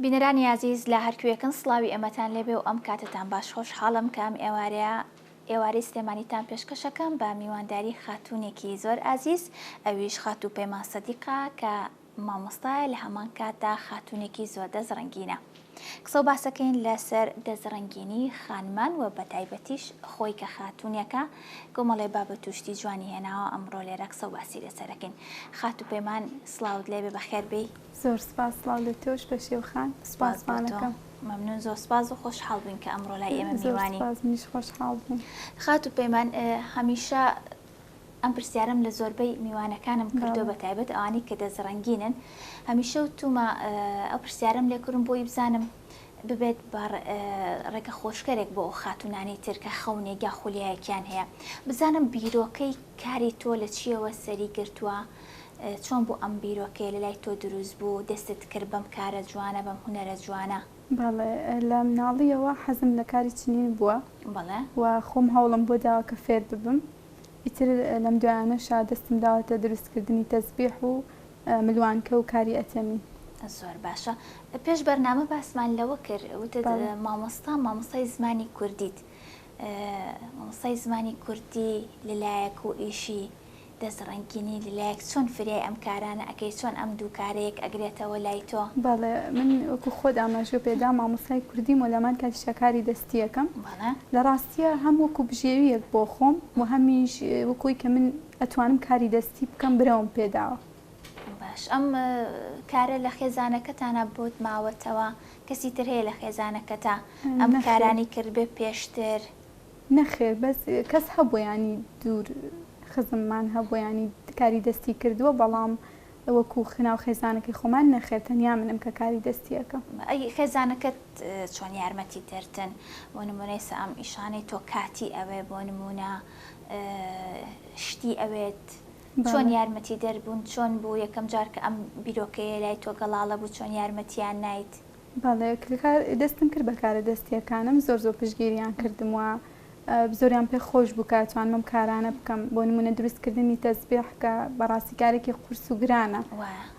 بینەرانی ئازیز لە هەرکوێکن سڵاوی ئەمەتان لێبێ و ئەم کاتتان باش خۆش حاڵم کە ئەم ئێوارەیە ئێوارەی سلێمانیتان پێشکەشەکەم بە میوانداری خاتونێکی زۆر ئازیز ئەویش خاتوو پەیمان سەدیقا کە مامۆستایە لە هەمان کاتدا خاتوونێکی زۆر دەست ڕەنگینە. قسە و باسەکەین لە سەر دەست ڕەنگینی خانمان و بە تایبەتیش خۆی کە خاتوونێکە کۆمەڵێ بابەت و شتی جوانی هێناوە ئەمڕۆ لێرە قسە و باسی لە سەر ئەکەین. خاتوو پەیمان سڵاوت لێ بێ بە خێر بێی. زۆر سپاس سڵاو لە تۆش پەشێو خان. سپاس بۆ تۆ. سوپاسڤانەکەم. مەمنوون زۆر سپاس و خۆشحاڵ بووین کە ئەمڕۆ لای ئێمە میوانی. زۆر سپاس منیش خۆشحاڵ بووم. خاتوو پەیمان هەمیشە ئەم پرسیارەم لە زۆربەی میوانەکانم کردوە بە تایبەت ئەوانەی کە دەست رەنگینن هەمیشە وتومە ئەو پرسیارەم لێ کردوم بۆی بزانم ببێت بە رێگە خۆشکەرێک بۆ ئەو خاتونانی تر کە خەونێک یا خولیایەکیان هەیە بزانم بیرۆکەی کاری تۆ لە چیەوە سەری گرتوە چۆن بوو ئەم بیرۆکەیە لە لای تۆ دروست بوو دەستت کرد بەم کارە جوانە بەم هونەرە جوانە؟ بەڵێ، لە مناڵییەوە حەزم لە کاری چنین بووە بەڵێ. و خۆم هەوڵم بۆ داوە کە فێر ببم. ئیتر لەم دوایانەشە دەستم داوەتە دروستکردنی تەزبیح و ملوانکە و کاری ئەتەمی. زۆر باشە. پێش بەرنامە باسمان لەوە کرد، وتت بەڵێ. مامۆستا مامۆستای زمانی کوردیت. مامۆستای زمانی کوردی لە لایەک و ئیشی دەست ڕەنگینی لەلایەک چۆن فریای ئەم کارانە ئەکەی چۆن ئەم دوو کارە یەک ئەگرێتەوە لای تۆ؟ بەڵێ من وەکو خۆت ئاماژە پێدا مامۆستای کوردیم و لەمان کاتیشا کاری دەستی ئەکەم بەڵێ. لە ڕاستیا هەم وەکو بژێویەک بۆ خۆم و هەمیش وەکو ئەوی کە من ئەتوانم کاری دەستی بکەم برەوم پێداوە. باش ئەم کارە لە خێزانەکەتانا بۆت ماوەتەوە کەسی تر هەیە لە خێزانەکەتا ئەم نەخێر. کارانی کردبێ پێشتر؟ نەخێر بەس کەس هەبووە یانی دوور خزممان هەبووە یانی کاری دەستی کردووە بەڵام وەکو خناو خێزانەکەی خۆمان نەخێر تەنیا منم کە کاری دەستی ئەکەم. ئەی خێزانەکەت چۆن یارمەتی دەرتن بۆ نمونەی سە ئەم ئیشانەی تۆ کاتی ئەوێ بۆ نمونە شتی ئەوێت چۆن یارمەتی دەر بوون چۆن بوو یەکەم جار کە ئەم بیرۆکەیە لای تۆ گەڵاڵە بوو چۆن یارمەتیان نایت؟ بەڵێ کلکار دەستم کرد بەکارە دەستیەکانم زۆر زۆر پشگیریان کردم و زۆریان پێ خۆش بوو کە توانمم کارانە بکەم بۆ نمونە دروستکردنی تەزبێح کە بەڕاستی کارێکی قورس و گرانە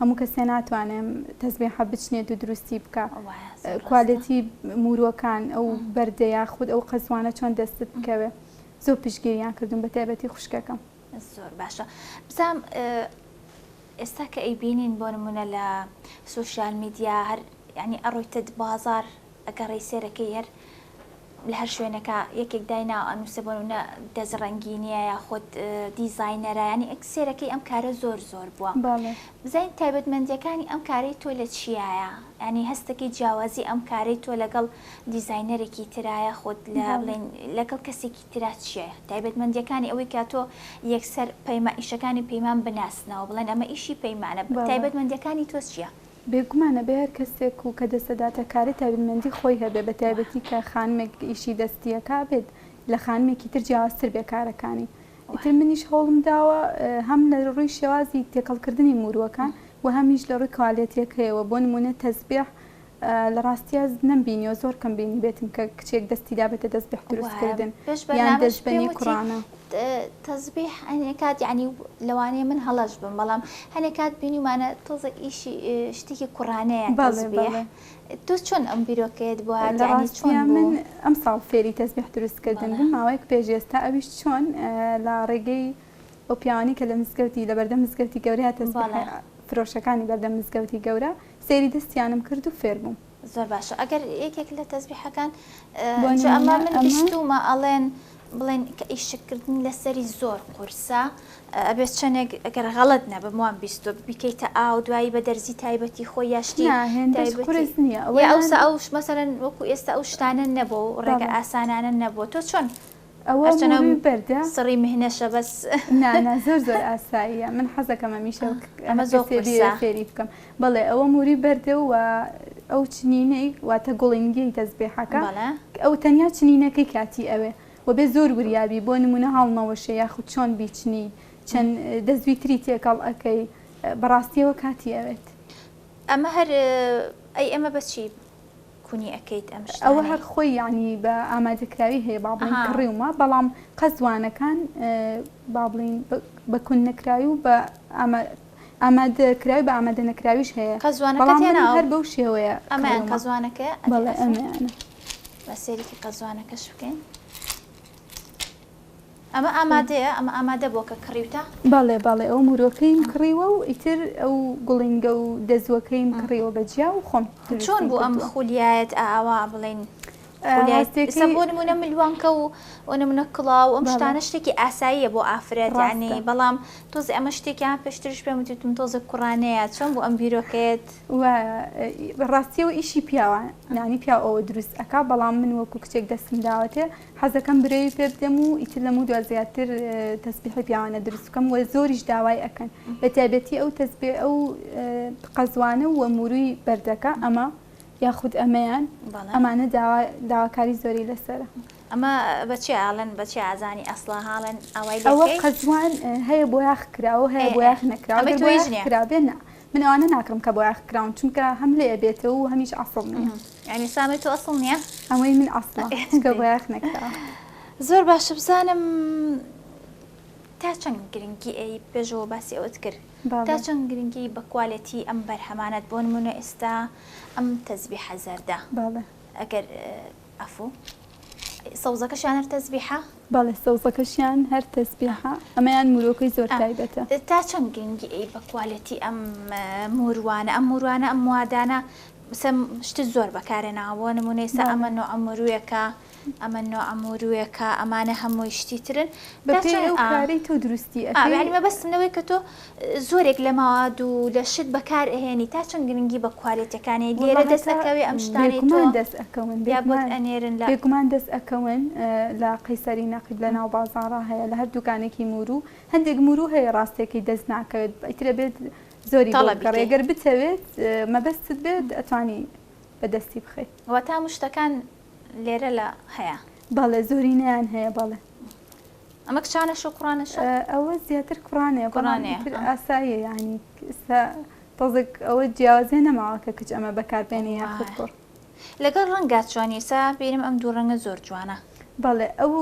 هەموو کەسێ ناتوانێم تەزبێحە بچنێت و دروستی بکە کوالێتی موروەکان ئەو بەردەیە خود ئەو قەزوانە چۆن دەستت بکەوێ زۆر پشگیریان کردوم بە تایبەتی خوشکەکەم. زۆر باشە بزام ئێستا کە ئەیبینین بۆ نمونە لە سوسیال میدیا هەر ینی ئەڕۆیتت بازار ئەگەڕی سێرەکەی هەر لە هەر شوێنەکە یەکێک داینا ئەنووسە بۆنە دەست ڕەنگینیە یا خۆت دیزینەرانی ئەک سێرەکەی ئەم کارە زۆر زۆر بووە بزین تایبەتمەندیەکانی ئەم کارەی تۆ لە چیایە ینی هەستەکەی جیاوازی ئەم کارەی تۆ لەگەڵ دیزینەرێکی ترایە خۆت لە بڵێن لەگەڵ کەسێکی ترا چییە تایبەتمەندییەکانی ئەوەی کە تۆ یەکسەر پەیما ئیشەکانی پەیمان بناسنەوە بڵێن ئەمە ئیشی پەیمانە بە تایبەتمەندییەکانی تۆ چییە؟ بێگومان ئەبێ هەر کەسێک و کە دەسەداتە کارێ تایبەتمەندی خۆی هەبێ بە تایبەتی کە خانمێک ئیشی دەستی ئەکا ئەبێت لە خانمێکی تر جیاوازتر بێ کارەکانی ئیتر منیش هەوڵم داوە هەم لە ڕووی شێوازی تێکەڵ کردنی مورووەکان و هەمیش لە ڕووی کوالێتییەکەیەوە بۆ نموونە تەزبێح لە ڕاستیا نەم بینیوە زۆر کەم بینیبێتم کە کچێک دەستی دابێتە تەزبیح دروست کردن یان دەست بە نی کوڕانە. تەزبیح هەنێ کات یعنی لەوانەیە من هەڵەش بم بەڵام هەنێ کات بینیمانە تۆزە ئیشی شتێکی کوڕانەیە تەزبیح تۆ چۆن ئەم بیرۆکەیەت بۆ هات لە یعنی چۆن بوو؟ من ئەمساڵ فێری تەزبیح دروست کردن بووم ماوەیەک پێش ئێستا ئەویش چۆن لە ڕێگەی ئەو پیاوانەی کە لە مزگەوتی لە بەردەم مزگەوتی گەورەیە تەزبیح فرۆشەکانی بەردەم مزگەوتی گەورە سەیری دەستیانم کرد و فێر بووم. زۆر باشە ئەگەر یەکێک لە تەزبیحەکان بۆ جا ئەمە من بیستومە ئەڵێن بڵێن کە ئیشک کردنی لەسەری زۆر قورسە ئەبێت چەندێک ئەگەر غەڵەت نەبم وام بیستوە ببیکەیتە ئاو دوایی بە دەرزی تایبەتی خۆی یا شتی نا هێندەش تایبەتی قورس نییە ئەوە یا ئەوسا یانە ئەوش مەسەلەن وەکو ئێستا ئەو شتانە نەبوو و ڕێگە بەڵێ ئاسانانە نەبووە تۆ چۆن ئەوە مووروی بەردە سڕی مهنەشە بەس نا نا زۆر زۆر ئاساییە من حەزەکەم ئەمیشە ئەمە زۆر فێری بکەم بەڵێ ئەوە مووری بەردە و ئەو چنینەی واتە گوڵینگی تەزبێحەکە ئەو تەنیا چنینەکەی کاتی ئەوێ و بێ زۆر وریابی بۆ نمونە هاڵمەوەشە یاخود چۆن بیچنی چەند دەستوی تری تێکەڵ ئەەکەی بەڕاستیەوە کاتی ئەوێت ئەمە هەر ئەی ئەمە بەچی کونی ئەکەیت ئەم شتانەی. ئەوە هەر خۆی یەعنی بە ئامادەکراوی هەیە با بڵێین کڕیومە بەڵام قەزوانەکان با بڵێین بە کون نەکراوی و بە ئامادەکراوی بە ئامادە نەکراویش هەیە قەزوانەکەت هێناوە هەر بەو شێوەیە ئەمەیان قەزوانەکە بەڵێ ئەمەیانە با سەیرێکی قەزوانەکەش بکەین. ئەمە ئامادەیە؟ ئەمە ئامادە بووە کە کڕیوتە؟ بەڵێ بەڵێ ئەو مورۆکەیم کڕیوە و ئیتر ئەو گوڵینگە و دەزووەکەیم کڕیوە بە جیا و خۆم دروستم کردووە. چۆن بوو ئەم خولیایەت ئاوا بڵێین خولیایەت ئێستا بۆ نموونە ملوانکە و بۆ نموونە کڵاو ئەم شتانە شتێکی ئاساییە بۆ ئافرەت یانی بەڵام تۆزێ ئەمە شتێکیان پێشتریش پێم وتتون تۆزێک کوڕانەیە چۆن بوو ئەم بیرۆکەیەت؟ وایە ڕاستیەوە ئیشی پیاوە یانی پیاو ئەوە دروست ئەکا بەڵام من وەکو کچێک دەستم داوەتێ حەزەکەم برەوی پێ بدەم و ئیتر لەمەودوا زیاتر تەسبیحی پیاوانە دروست بکەم و زۆریش داوای ئەکەن بە تایبەتی ئەو تەسبیح ئەو قەزوانە و موروی بەردەکە ئەمە یاخود ئەمەیان ئەمانە داواکاری زۆری لەسرە ئەمە بەچێ ئاڵن بەچێ ئازانی ئەسڵا هاڵن ئەوەی ئەوە قەزوان هەیە بۆ یاخ کراوە هەیە بۆ یاخ نەکراوە بۆ یاخ کرا بێنە من ئەوانە ناکڕم کە بۆیاخ کراون چونکە هەم لێ ئەبێتە و هەمیش عەفڕم نیە یعنی سامەی تۆ ئەسڵ نیە ئەمەی من ئەسڵە چونکە بۆیاخ نەکراوە زۆر باشە بزانم تا چەند گرنگی ئەی پێشەوە باسی ئەوەت کرد تا چەند گرنگی بە کوالێتی ئەم بەرهەمانەت بۆ نمونە ئێستا ئەم تەزبیحە زەردە ئەگەر عەفو ئەی سەوزەکەشیان هەر تەزبیحە؟ بەڵێ سەوزەکەشیان هەر تەزبیحە ئەمەیان مورۆکەی زۆر تایبەتە. تا چەند گرنگی ئەی بە کوالێتی ئەم موروانە ئەم موروانە ئەم موادانە سە شتی زۆر بەکارێ ناوە بۆ نمونە ئێسا ئەمە نۆع موروێکە ئەمە نۆع موروێکە ئەمانە هەمووی شتی ترن بە پێی ئەو کارەی تۆ دروستی ئەکەی ئەوێ مەبەستم لەوەی کە تۆ زۆرێک لە مەواد و لە شت بەکار ئەهێنی تا چەند گرنگی بە کوالێتەکانی ئەدی ئێرە دەست ئەکەوێ ئەم شتانەی تۆ بێگومان دەست ئەکەون یا بۆت ئەنێرن لە بێگومان دەست ئەکەون لە قەیسەری نەقیب لە ناو بازاڕا هەیە لە هەر دوکانێکی موورو هەندێک موورو هەیە ڕاستەکەی دەست ناکەوێت ئیتر ئەبێت زۆری بۆ تەڵەبی بکڕی کەی گەر بتەوێت مەبەستت بێت ئەتوانی بە دەستی بخەی. واتە هەموو شتەکان لێرە لە هەیە. بەڵێ زۆرینەیان هەیە بەڵێ. ئەمە کچانەشە کوڕانەشە؟ ئەوە زیاتر کوڕانەیە بەڵام ئیتر ئاساییە یانی ئێستا تۆزێک ئەوە جیاوازیە نەماوە کە کچ ئەمە بەکاربێنێ یاخود کوڕ لەگەڵ ڕەنگات چۆنی ئێستا بینم ئەم دوو ڕەنگە زۆر جوانە بەڵێ ئەو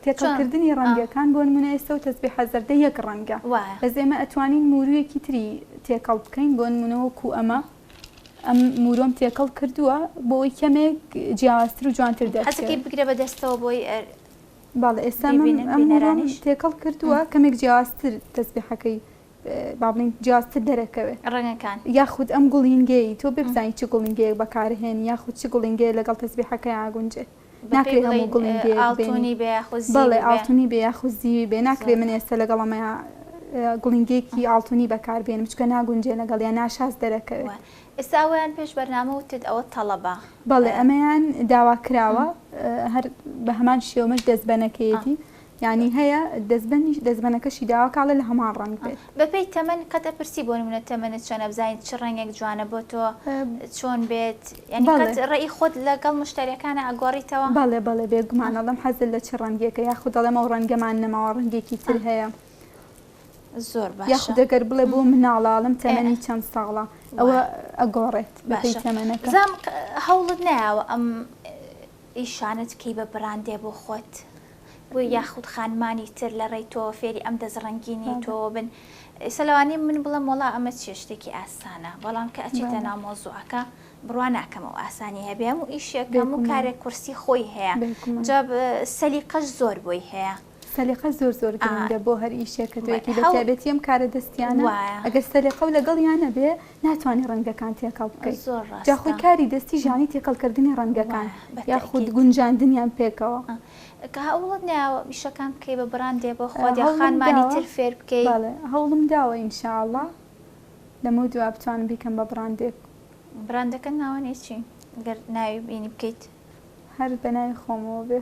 تێکەڵکردنی ڕەنگەکان بۆ نمونە ئێستا و تەسبی حەزەردە یەک ڕەنگە بەس ئێمە ئەتوانین مورویەکی تری تێکەڵ بکەین بۆ نمونەوە کو ئەمە ئەم مورۆم تێکەڵ کردووە بۆی کەمێک جیاوازتر و جوانتر دەستەکەی بگرە بە دەستەوە بۆی بەڵێ ئێستا من ئەم هەمووەم بینەرانیش. تێکەڵ کردووە کەمێک جیاوازتر تەسبیحەکەی با بڵێین جیاوازتر دەرەکەوێ ڕەنگەکان. یاخود ئەم گوڵینگەی تۆ بێ بزانی چ گوڵینگەیەک بەکارهێنی یاخود چ گوڵینگەیە لەگەڵ تەسبیحەکەی ئاگونجێ بە پێی ناکرێ هەموو بڵێین گوڵینگەیەک بێنی ئاڵتونی بێ یاخود زیوی بەڵێ بێ ئاڵتونی بێ یاخود زیوی بێ ناکرێ زۆر من ئێستا لەگەڵ ئەمەیا ە، گوڵینگەیەکی ئاڵتونی بەکار بێنم چونکە ناگونجێ لەگەڵیا ناشاز دەرەکەوێ. وە ئێستا ئەوەیان پێش بەرنامە وتت ئەوە تەڵەبە بەڵێ ئەمەیان داوا کراوە هەر بەهەمان شێوەش دەستبەنەکەیەتی یعنی هەیە دەستبەنیش دەستبەنەکەشی داوا کاڵە لە هەمان ڕەنگ بێت بەپێی تەمەن قەت ئەپرسی بۆ نمونە تەمەنت چۆنە بزانین چ ڕەنگێک جوانە بۆ تۆ چۆن بێت یعنی بەڵێ. قەت ڕێی خۆت لەگەڵ مشتریەکانە ئەگۆڕیتەوە بەڵێ بەڵێ بێگومان ئەڵێم حەزت لە چ ڕەنگێکە یاخود دەڵێم ئەو ڕەنگەمان نەماوە ڕەنگێکی تر هەیە. زۆر باشە یاخود ئەگەر بڵێ بۆ مناڵاڵم تەمەنی چەند ساڵە ئەوە ئەگۆڕێت بەپێی تەمەنەکە زام هەوڵت نایەوە ئەم ئیشانت کەی بە بڕاندێ بۆ خۆت بۆ یاخود خانمانی تر لە ڕێی تۆ فێری ئەم دەست ڕەنگینی تۆ بن سەلوانی من بڵم وڵا ئەمە چێشتێکی ئاسانە بەڵام کە ئەچێتە نامۆزوعەکە بڕوا ناکەم و ئاسانی هەبێم و ئیشێکەم و کارێک کورسی خۆی هەیە جاب سەلی قەش زۆر بۆی هەیە سەلیقە زۆر زۆر گرنگە بۆ هەر ئیشێک کە تۆیەکی بەتابێتی ئەم کارە دەستیانە ئەگەر سەلیقە و لەگەڵیان نەبێ ناتوانانی ڕەنگەکان تێکەڵ بکەیت جاخۆی کاری دەستی ژانی تێکەڵکردنی ڕەنگەکان یاخود گونجاندنیان پێکەوە کە هەوڵت ناوە میشەکان بکەی بە بڕاندێ بۆ خۆدیخانمانی تر فێر بکەی هەوڵم داوە ئینشاءله لەمە دوا بتوانم بیکەم بە بڕاندێک بڕاندەکە ناوەێ چی گەر ناوی بینی بکەیت هەر بەناوی خۆمەوە بێ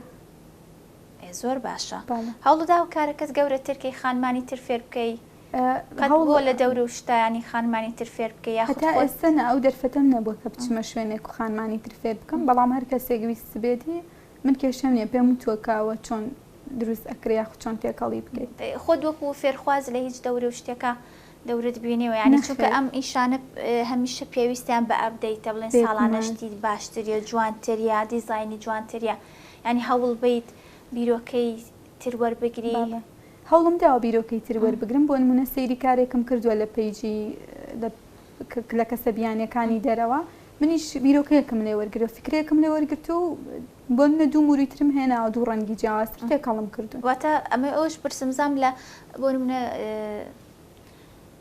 ئێ زۆر باشە هەوڵداوە کارەکەت گەورەتر کەی خانمانی تر فێر بکەی؟ قەت بۆ لە دەور و شتانی خانمانی تر فێر بکەی یاخود خۆت؟ هەتا ئێستە نا ئەو دەرفەتەم نەبووە کە بچمە شوێنێک و خانمانی تر فێر بکەم بەڵام هەر کەسێک ویستبێتی من کێشەم نیە پێم وتووە کاوە چۆن دروست ئەکرێ یاخود چۆن تێکەڵی بکەی. خۆت وەکو فێرخواز لە هیچ دەور و شتێکا دەورت بینیوە یانی چونکە ئەم ئیشانە هەمیشە پێویستیان بە ئەبدەیتە بڵێن ساڵانە شتی باشتر یا جوانتر یا دیزاینی جوانتر یا یانی هەوڵ بەیت بیرۆکەی تر وەربگری؟ بەڵێ هەوڵم داوە بیرۆکەی تر وەربگرم بۆ نمونە سەیری کارێکم کردوە لە پەیجی لە لە کەسە بیانیەکانی دەرەوە منیش بیرۆکەیەکم لێ وەرگرە فکرەیەکم لێ وەرگرت و بۆ نمونە دوو موری ترم هێناوە دوو ڕەنگی جیاوازتر تێکەڵم کردوون. واتە ئەمەی ئەوەش پرسم زام لە بۆ نمونە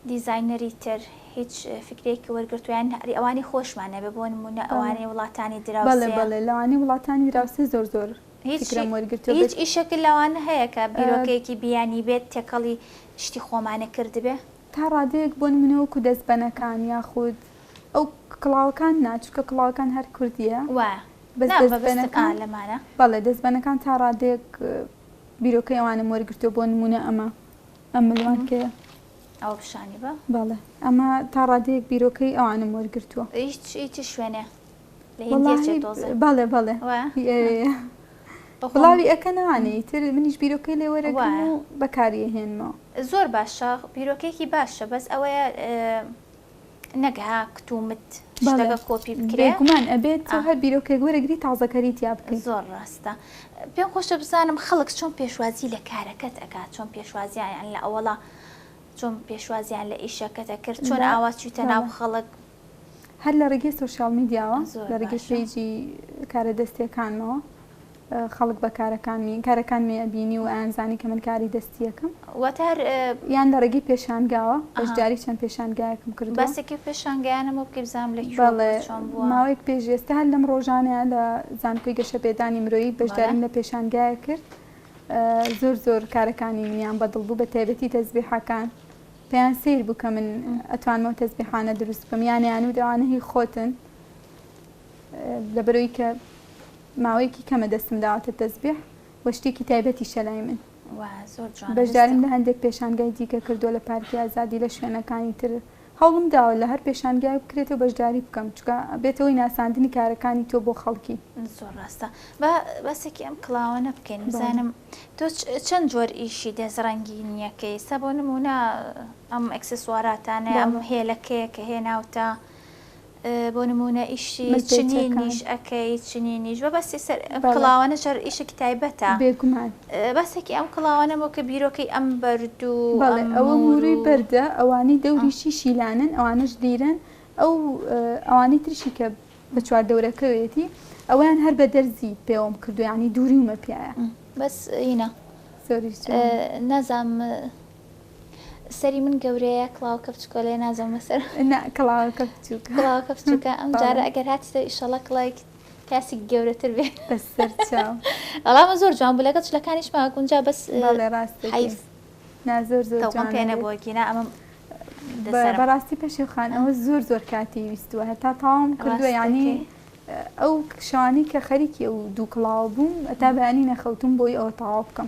دیزاینەری تر هیچ فیکرەیەکی وەرگرتوە یان ئەری ئەوانەی خۆشمان ئەبێ بۆ نمونە بەڵێ ئەوانەی وڵاتانی بەڵێ دراوسێ. بەڵێ لەوانەی وڵاتانی دراوسێ زۆر زۆر هیچ فیکرەم وەرگرتوە هیچ بێت. ئیشەک لەوانە هەیە کە بیرۆکەیەکی بیانی بێت تێکەڵی شتی خۆمانە کردبێ؟ تا ڕادەیەک بۆ نمونە وەکو دەستبەنەکان یاخود ئەو کڵاوەکان نا چونکە کڵاوەکان هەر کوردیە وایە بەس نا مەبەستم آ دەستبەنەکان لەمانە. بەڵێ دەستبەنەکان تا ڕادەیەک بیرۆکەی ئەوانەم وەرگرتوە بۆ نمونە ئەمە. ئەم ملوان کێیە؟ ئەوە پیشانی بە. بەڵێ ئەمە تا ڕادەیەک بیرۆکەی ئەوانم وەرگرتووە. هیچ هی چ شوێنێ؟ لە هیندیە چێ تۆزێ؟ بەڵێ بەڵێ بڵاوی ئەکەن ئەوانە ئیتر منیش بیرۆکەی لێ وەرەگرم و بەکاری ئەهێنمەوە. زۆر باشە بیرۆکەیەکی باشە بەس ئەوەیە نەک ها کت و مت بەڵێ شتەکە کۆپی بکرێ بێگومان ئەبێت تۆ هەر بیرۆکێک وەرەگری تازەکەری تیا بکەی. زۆر ڕاستە پێم خۆشە بزانم خەڵک چۆن پێشوازی لە کارەکەت ئەکات چۆن پێشوازیان لە ئەوەڵا چۆن پێشوازیان لە ئیشەکەت ئەکرد چۆن لە ئاوا چویتە بەڵێ ناو خەڵک هەر لە ڕێگەی سۆشیاڵ میدیاوە زۆر لە ڕێگەی باشە. پەیجی کارە دەستیەکانمەوە خەڵک بە کارەکانمی کارەکانمی ئەبینی و ئەیانزانی کە من کاری دەستییەکم. واتە هەر. یان لە ڕێگەی پێشانگاوە، بەشداری چەند پێشانگایەکم کردووە. ئەها، باسێکی و پێشانگایانە بۆ بکەی بزانم لە کوێ بووە و چۆن بووە. بەڵێ، ماوەیەک پێش ئێستە هەر لەم ڕۆژانەیا لە زانکۆی گەشەپێدانی مرۆیی بەشداریم لە پێشانگایەک کرد. زۆر زۆر کارەکانی منیان بە دڵ بوو، بە تایبەتی تەزبیحەکان. پێیان سەیر بوو کە من ئەتوانم ئەو تەزبیحانە دروست بکەم. یان ئەیانوت ئەوانە هی خۆتن. لەبەرئەوەی کە. ماوەیەکی کەمە دەستم داوەتە تەزبیح و شتێکی تایبەتیشە لای من. بەشداریم لە هەندێک پێشانگای دیکە کردووە لە پارکی ئازادی لە شوێنەکانی تر. هەوڵم داوە لە هەر پێشانگایەک بکرێتەوە بەشداری بکەم، چونکە بێتە هۆی ناساندنی کارەکانی تۆ بۆ خەڵکی. زۆر ڕاستە. با باسێکی ئەم کڵاوانە بکەین. بزانم تۆ چەند جۆر ئیشی دەست ڕەنگینییەکەی؟ ئێستا بۆ نموونە ئەم ئەکسسواراتانەی، ئەم هێلەکەیە کە هێناوتە، بۆ نموونە ئیشی چنینیش ئەکەی، چنینیش بە بەسی سەر ئەم کڵاوانە چەر ئیشێکی تایبەتە، بێگومان بەسێکی ئەم کڵاوانە بۆ کە بیرۆکەی ئەم بەرد و بەڵێ ئەوە موورووی بەردە، ئەوانەی دەوریشی شیلانەن ئەوانەش لیرەن، ئەو ئەوانەی تریشی کە بە چوار دەورەکەوێتی ئەوەیان هەر بە دەرزی پێوەم کردووە یانی دووریومە پیایە. بەس ئینە زۆریش جوانە. نازانم سەری من گەورەیە کڵاوەکە بچکۆلەیە نازەمە سەر. نا کڵاوەکە بچووکە. کڵاوەکە بچووکە ئەم جارە ئەگەر هاتیتەوە ئیشەڵا کڵاوێکی کاسێکی گەورەتر بێ. بەس سەر چاو. ئەڵا من زۆر جوان بوو لەگەڵ چلەکانیش ما گونجا بەس. بەڵێ ڕاست دەکەی. حەیف. نا زۆر زۆر جوانە. تەوقەم پێ نەبووە گینا ئەمەم لەسەرم. بەڕاستی پەشێو خان ئەوە زۆر زۆر کاتی ویستووە هەتا تەواوم کردووە یانی ئەو شەوانەی کە خەریکی ئەو دوو کڵاوە بووم هەتا بەیانی نەخەوتووم بۆی ئەوە تەواو بکەم.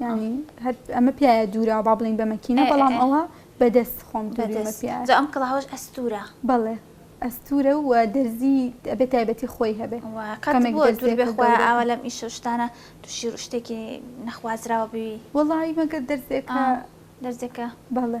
یانی هەر ئەمە پیاە دوورا با بڵین بە مەکینە بەڵام ئەوە بەدەست خۆم جا ئەم کڵاوەش ئەستورە بەڵێ ئەستورە و دەرزی ئەبێت تایبەتی خۆی هەبێت ئاوا لەم ئیش شتانە تووشی شتێکی نەخوازراوە بوی وڵی مەگە دەرزێکە دەرزێکە بەڵێ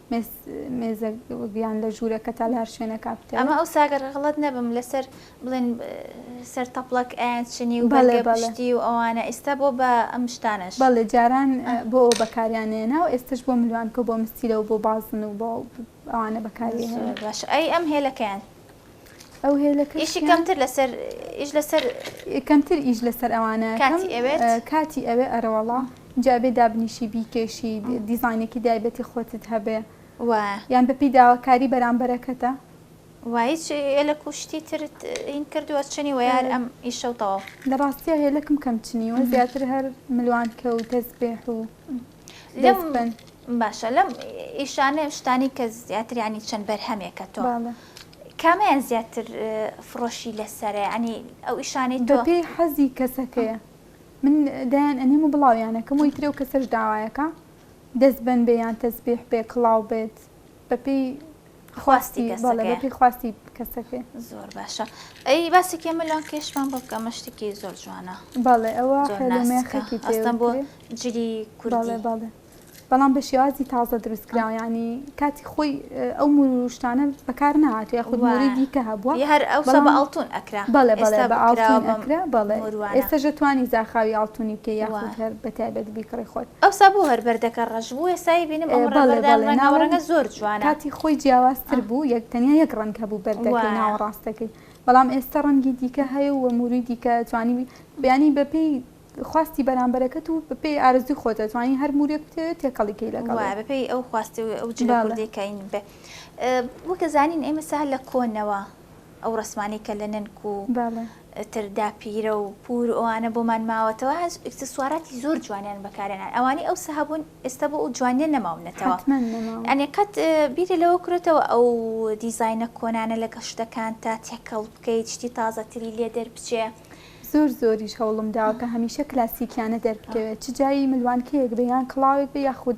مێزە یان لە ژوورەکە تا لە هەر شوێنەکا بکەوێ. ئەمە ئەوسا گەر غەڵەت نەبم لەسەر بڵێن سەر تەپڵەک ئەیان چنی و بەڵێ بەڵێ پشتی و ئەوانە ئیستا بۆ بە ئەم شتانەش. بەڵێ جاران بۆ ئەوە بەکاریان ئەیەنا و ئێستەش بۆ ملوانکە و بۆ مستیلە و بۆ بازن و بۆ ئەوانە بەکاری ئەهێنن. زۆر باشە ئەی ئەم هێلەکەیان. ئەو هێلە کە ئیشی کەمتر لەسەر ئیش لەسەر کەمتر ئیش لەسەر ئەوانە کاتی ئەوێت کاتی ئەوێ ئەرەوەڵا جابێ دابنیشی بیکێشی دیزانێکی دایبەتی خۆتت هەبێ و یان بەپی داواکاری بەرامبەرەکەتە وایچ لە کوشتی ترت هین کردووە چنی ویار ئەم ئیشە و تەواو لە ڕاستیە هێلەکم کەم چنی و زیاتر هەر ملوان کە و تەزبێح و باشە لەم ئیشانێ شتانی کە زیاتر ینی چەند بەرهەمێکە تۆ کامیان زیاتر فڕۆشی لەسەرێ ئەنی ئەو ئیشانی دۆ پێی حەزی کەسەکەیە من دایان ئەنیم و بڵاویانەکەم وی ترێ و کەسەش داوایەکە دەست بەن بێ یان تەزبیح بێ کڵاو بێت بەپێی خواستی کەسەکەیە بەڵێ بە پێی خواستی کەسەکەی زۆر باشە ئەی باسێکی ئەمە لۆن کێشمان بۆ بکە مەشتێکی زۆر جوانە بەڵێ ئەوە خێلومێخێکی تێستان بۆ جلی کوردڵێ بەڵێ بەڵام بە شێوازی تازە دروستکراوە ینی کاتی خۆی ئەو مروشتانە بەکار نهات یا خودماری دیکە هەبووە هەر ئەو بە ئاڵتون ئەکرا بەڵێ بەڵێ بە ئاڵتون ئەکرا بەڵێ ئێستا ژەتوانی زاخاوی ئاڵتونی بکە یاخود هەر بەتایبەت بیکڕی خۆت ئەوسا بۆ هەر بەردەکە ڕەش بوو ئێستا ئەیبینم ئەم ڕەنگە بەڵێ بەڵێ ناوەڕاستە ڕەنگە زۆر جوانە کاتی خۆی جیاواز تر بوو یەک تەنیا یەک ڕەنگ هەبوو بەردەکەی وایە. ناوەڕاستەکەی بەڵام ئێستا ڕەنگی دیکە هەیە و مووری دیکە جوانی یانی بەپێی خواستی بەرامبەرەکەت و بەپێی ئارەزووی خۆت ئەتوانی هەر موورێک بتەوێت تێکەڵی کەی لەگەڵ وایە بەپێی ئەو خواستەی ئەو جلە بەڵێ. کوردی کە ئین بێ وەک دەزانین ئێمە سا لە کۆنەوە. ئەو ڕەسمانەی کە لە نەنک و تر داپیرە و پوور و ئەوانە بۆمان ماوەتەوە هەست ئیکسسواراتی زۆر جوانیان بەکارێنان ئەوانەی ئەوسا هەبوون ئێستا بۆ ئەو جوانیە نەماونەتەوە ئەنێ قەت بیرە لەوە کرێتەوە ئەو دیزینە کۆنانە لە گەشتەکان تا تێکەڵ بکەیت شتی تازەتری لێ دەربچێ زۆر زۆریش هەوڵم داوە کە هەمیشە کلاسیکیانە دەربکەوێت چ جای ملوانکەیەک بێ یان کڵاوێک بێ یاخود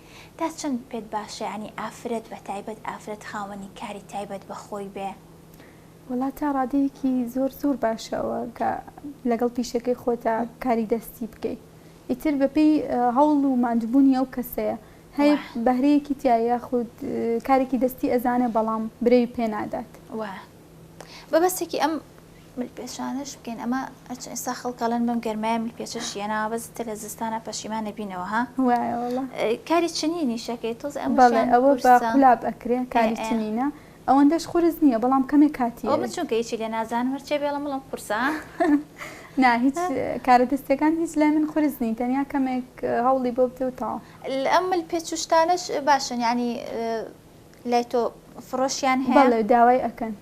تا چەند پێت باشە یانی ئافرەت بە تایبەت ئافرەت خاوەنی کاری تایبەت بە خۆی بێ؟ وەڵا تا ڕادەیەکی زۆر زۆر باشە ئەوە کە لەگەڵ پیشەکەی خۆتا کاری دەستی بکەی ئیتر بە پێی هەوڵ و ماندوبونی ئەو کەسەیە هەیە وە. بەهرەیەکی تیایە یاخود کارێکی دەستی ئەزانێ بەڵام برەوی پێ نادات. وە. بەبەستێکی ئەم. ملپێچانەش بکەین ئەمە ئەچ ئێستا خەڵک ئەڵێن بەم گەرمایە ملپێچە شیە ناوە بەس ئیتر لە زستانا پەشیمان نەبینەوە ها وایە وەڵا کاری چنینیش ئەکەی تۆزێ بەڵێ ئەمەشیان ئەوە بە قورسە قولاب ئەکرێ ئێ کاری ئێ چنینە ئەوەندەش قورس نییە بەڵام کەمێ کاتی ئەوە من ئەوێ. چونکە هیچی لێ نازانم هەرچێ بێڵم بڵێم قورسە ها نا هیچ ها. کارە دەستیەکان هیچ لای من قورس نین تەنیا کەمێک هەوڵی بۆ بدە و تەواو. ال ئەم ملپێچ و شتانەش باشن یانی لای تۆ فڕۆشیان هەیە؟ بەڵێ داوای ئەکەن.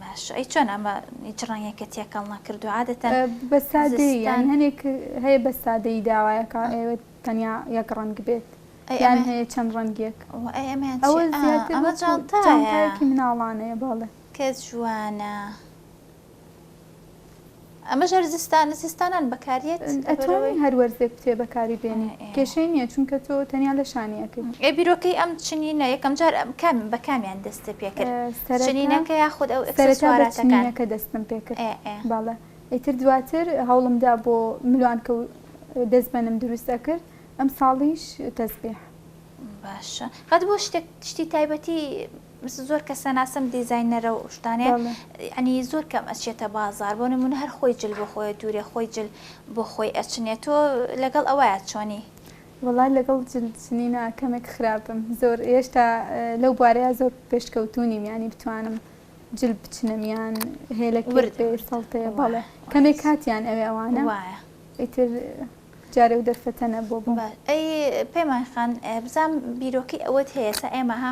باشە ئەی چۆن ئەمە هیچ ڕەنگێکە تێکەڵ نەکردوە عادەتەن بە سادەی یان هەنێک هەیە بە سادەی داوایەکە ئەوێت تەنیا یەک ڕەنگ بێت یان هەیە چەند ڕەنگێک ئەوە زیاتر ئەمە جانتایەکی مناڵانەیە بەڵێ کە جوانە. ئەمەش هەر زستان زستانان بەکاریەت ئەتوانی هەر وەرزێک بتێ بەکاری بێنی کێشەی نیە چونکە تۆ تەنیا لە شانی ئەکەی ئێ بیرۆکەی ئەم چنینە یەکەم جار کام بە کامیان دەستت پێ کرد سەرەتا چنینەکە یاخود ئەو سەرەتا بە ئکسسواراتەکان چنینەکە دەستم پێ کرد ئێ ئێ بەڵێ ئیتر دواتر هەوڵم دا بۆ ملوانکە و دەستبەنم دروست ئەکرد ئەمساڵیش تەزبیح. باشە قەت بۆ شتێک شتی تایبەتی مثل زۆر کەس ناسم دیزاینەرە و شتانێ بەڵێ یعنی زۆر کەم ئەچێتە بازار بۆ نمونە هەر خۆی جل بۆ خۆی دوورێ خۆی جل بۆ خۆی ئەچنێ تۆ لەگەڵ ئەوەیە چۆنی؟ وەڵای لەگەڵ جل چنینە کەمێک خراپم زۆر هێشتا لەو بوارەیا زۆر پێشکەوتوو نیم یانی بتوانم جل بچنم یان هێلەکێک بێ سەڵتەیە بەڵێ کەمێک کاتیان ئەوێ ئەوانە ئیتر جارێ و دەرفەتە نەبووە بۆم. ئەی پەیمان خان بزانم بیرۆکەی ئەوەت هەیە سا ئێمە ها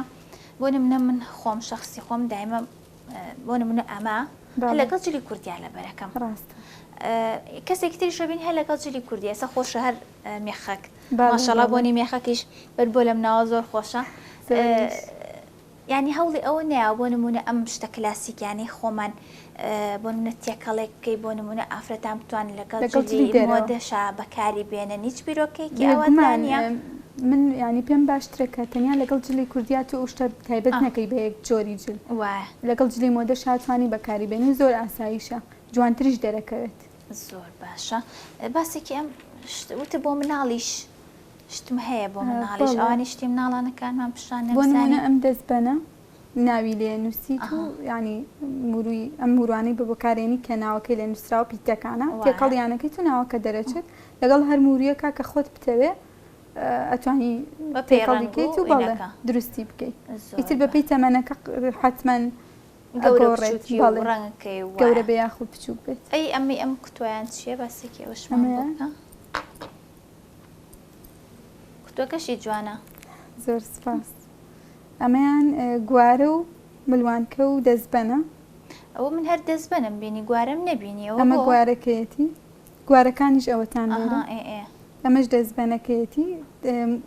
بۆ نمونە من خۆم شخصی خۆم دایمە بۆ نمونە ئەمە لەگەڵ جلی کوردیا لە بەرەکەم کەسێک تری شەبین هەر لەگەڵ جلی کوردی ئەسە خۆش هەر مێخەک ماشەڵا بۆنی مێخەکیش بەر بۆ لەم ناوە زۆر خۆشە ینی هەوڵی ئەوە نیا بۆ نمونە ئەم شتە کلاسیکیانی خۆمان بۆ نمونە تێکەڵێک بکەی بۆ نمونە ئافرەتان بتوانن لەگەڵ جلی مۆدەشا بەکاری بێنن هیچ بیرۆکەیەکی ئەوەندان نیە من ینی پێم باشترە کە تەنیا لەگەڵ جلی کوردیا تۆ ئەو شتە تایبەت نەکەی بە یەک جۆری جل وایە لەگەڵ جلی مۆدەشا توانی بەکاری بێنی زۆر ئاساییشە جوانتریش دەرەکەوێت زۆر باشە باسێکی ئەم وتە بۆ مناڵیش شتم هەیە بۆ مناڵیش ئەوانی شتی مناڵانەکانمان پیشان بۆ نمونە ئەم دەستبەنە ناوی لێ نوسیت و یانی موروی ئەم موروانەی بە بەکارێنی کە ناوەکەی لێ نوسراوە پیتەکانە وایە. تێکەڵیانەکەیت و ناوەکە دەرەچێت لەگەڵ هەر مورویەکا کە خۆت بتەوێ ئەتوانی بە پێی تێکەڵی ڕەنگ و بکەیت و بەڵێ ئینەکە دروستی بکەی زۆر ئیتر بە بەپێی تەمەنەکە ق حەتمەن گەورە و ئەگۆڕێت بچوکی و بەڵێ ڕەنگەکەی و گەورە وایە بێ یاخود بچوک بێت. ئەی ئەمەی ئەم کوتوایان چیە باسێکی ئەوەشمان بۆ ئەمەیە؟ بکە کوتوەکەشی جوانە. زۆر سوپاس. ئەمەیان گوارە و ملوانکە و دەزبەنە. ئەوە من هەر دەزبەنم بینی گوارەم نەبینی ئەوە بۆ؟ ئەمە گوارەکەیەتی گوارەکانیش ئەوەتان لێرە. ئەها ئێ ئێ. ئەمەش دەزبەنەکەیەتی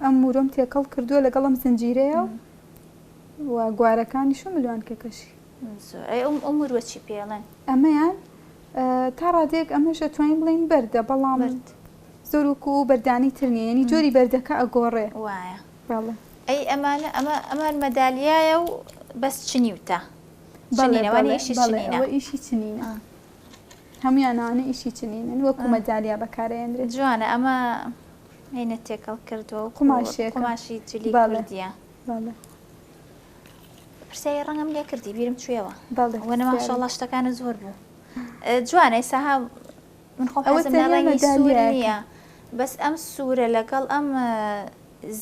ئەم مورۆم تێکەڵ کردووە لەگەڵ ئەم زنجیرەیا و و گوارەکانیش و ملوانکەکەشی. زۆر ئەی ئەو ئەو موروە چی پێ ئەڵێن؟ ئەمەیان تا ڕادەیەک ئەمەش ئەتوانین بڵێین بەردە بەڵام. بەرد. زۆر وەکوو ئەو بەردانەی تر نییە یانی جۆری بەردەکە ئەگۆڕێ. وایە. بەڵێ. ئەی ئەمانە ئەمە ئەمان مەدالیایە و بەس چنیوتە بەڵێ بەڵێ بەڵێ ئەوە ئیشی چنینە هەمویان ئەوانە ئیشی چنینن وەکو مەدالیا بەکارەیەنرێت. جوانە ئەمە عینە تێکەڵ کردوە و قوماشێ قوماشی جلی بەڵێدیە بەڵێ. پرسیای ڕەنگم لێ کردی بیرم چوێەوە بەڵێ وەنەماشەڵا شتەکانە زۆر بوو جوانە ئێساها من خۆم حەزم لە ڕەنگی سوور نییە بەس ئەم سوورە لەگەڵ ئەم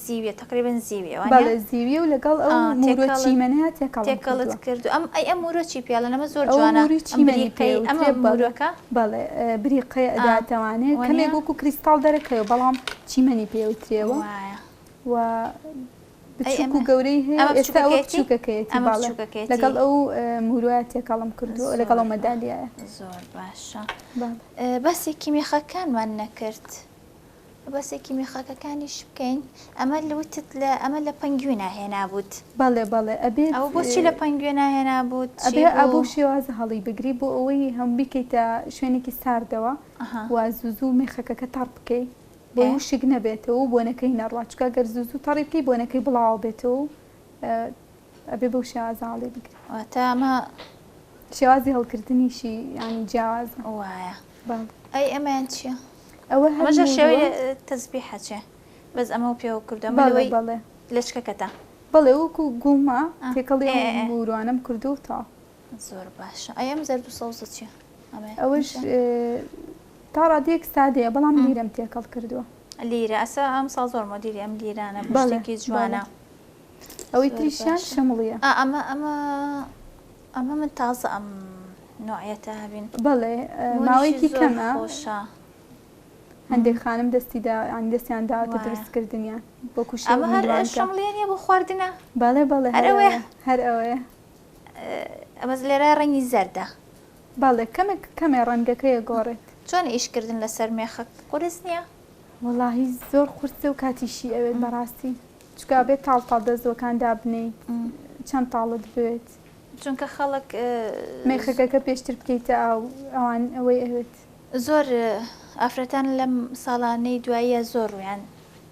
زیویە تقریبا زیویە وانە زیویە و لەگەڵ ئەو مورۆ چیمەنەیە تێکەڵت کرد ئەم ئەی ئەم مورۆ چی پێڵە نەمە زۆر جوانە چیمەریقەی ئەمە مورۆکە بەڵێ بریقەی ئەداتەوانێ کەمێک وەکو کریستاڵ دەرەکەوێ بەڵام چیمەنی پێوترێەوە و بچوک و گەورەی هەیە ئێستا ئەوە بچوکەکەیەتی بەڵێ لەگەڵ ئەو موروایە تێکەڵم کردووە لەگەڵ ئەو مەدالیایە زۆر باشە بەسێکی مێخەکانمان نەکرد بەسێکی مێخەکەکانیش بکەین ئەمە لوتت لە ئەمە لە پەنگوێ ناهێنا بوت بەڵێ بەڵێ ئەبێ ئەو بۆچی لە پەنگوێ ناهێنا بوت ئەبێ ئەبوو شێوازە هەڵی بگری بۆ ئەوەی هەم بیکەیتە شوێنێکی ساردەوە و زوو زوو مێخەکەکە تەڕ بکەیت بۆی وشک نەبێتەوە و بۆنەکەی نەڕوا چونکە گەر زوو زوو تەڕی بکەی بۆنەکەی بڵاوە بێتەوە و ئەبێ بەو شێوازە هەڵی بگری. واتە ئەمە شێوازی هەڵکردنیشی یانی جیاوازە. وایە. بەڵێ. ئەی ئەمەیان چییە؟ ئەوە هەر ئەمەش شێوەی تەزبیحە چێ؟ بەس ئەمە پێوە کردووە ئەمە لەوەی بەڵێ بەڵێ. لەچکەکەتە. بەڵێ وەکوو گوومە تێکەڵی ئەو مووروانەم کردووە و تەواو. زۆر باشە ئەی ئەم زەرد و سەوزە چیە ئەوش تا ڕادێک سادەیە بەڵام لیرەم تێکەڵ کردووە لیرە ئەسا ئەم سا زۆر مۆدیری ئەم لیرانە بەڵێکی جوانە ئەوەی تریشیان شەمڵیە ئەمە ئەمە ئەمە من تازە ئەم نوعەتە هەبین بەڵێ ماوەیەکی کەمە خۆشە هەندێک خانم دەستی دا ئەنی دەستیان داوەتە دروستکردنیان بۆ کوشەمە هەر شەمڵێنە بۆ خواردنە بەڵێ بەڵێ هەر ئەوەیە ئەمەز لێرە ڕەنگی زەردە. بەڵێ کەمێک کەمێ ڕەنگەکەی ئەگۆڕێت. چۆنە ئیش کردن لەسەر مێخەک قورس نیە؟ وەڵاهی زۆر قورسە و کاتیشی ئەوێت بەڕاستی چونکە ئەبێت تاڵ تاڵ دەزووەکان دابنێی چەند تاڵت بوێت چونکە خەڵک مێخەکەکە پێشتر بکەیتە ئاو ئەوان ئەوەی ئەوێت. زۆر ئافرەتان لەم ساڵانەی دواییە زۆر ڕوویان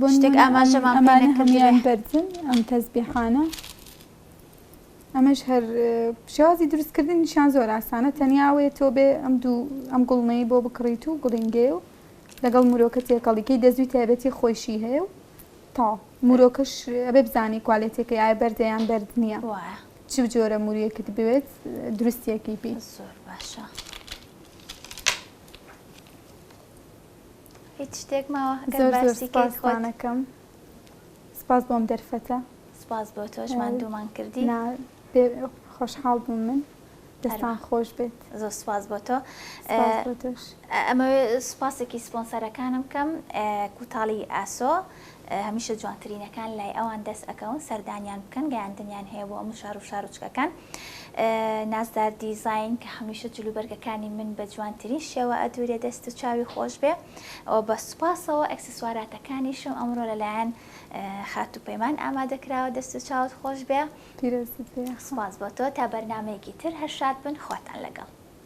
بۆ شتێک ئاماژەمان پێ نەکردبێ. ئەمانە هەموویان بەرزن ئەم تەزبیحانە. ئەمەش هەر شێوازی دروستکردنیشیان زۆر ئاسانە تەنیا ئەوەیە تۆ بێ ئەم دوو ئەم گوڵمەی بۆ بکڕیت و گوڵینگەیە و لەگەڵ مرۆکە تێکەڵیکەی دەزوی تایبەتی خۆیشی هەیە و تا مرۆکەش ئەبێ بزانانی کوالێتەکەی ئایا بەردە یان بەرد نییە چ جۆرە مرویەکت بوێت دروستیەکەی پێ زۆر باشە. هیچ شتێک ماوە گەر زۆر زۆر باسی کەیت خۆت سوپاستانەکەم سپاس بۆم دەرفەتە سپاس بۆ تۆش ماندوومان کردی نا بێ خۆشحاڵ بووم من دەستان ئەروا. خۆش بێت زۆر سپاس بۆ تۆ سپاس بۆ تۆش ئەمەوێ سوپاسێکی سپۆنسەرەکانم بکەم ئە، کوتاڵی ئاسۆ هەمیشە جوانترینەکان لای ئەوان دەست ئەکەون سەردانیان بکەن گەیاندنیان هەیە بۆ ئەم شار و شارۆچکەکان نازدار دیزین کە هەمیشە جلوبەرگەکانی من بە جوانترین شێوە ئەدورێ دەست و چاوی خۆش بێ ئەو بە سوپاسەوە ئەکسسواراتەکانیشم ئەمڕۆ لەلایەن خات و پەیمان ئامادەکراوە دەست و چاوت خۆش بێ پیرۆزت بێ سوپاس بۆ تۆ تا بەرنمەیەکی تر هەر شاد بن خواتان لەگەڵ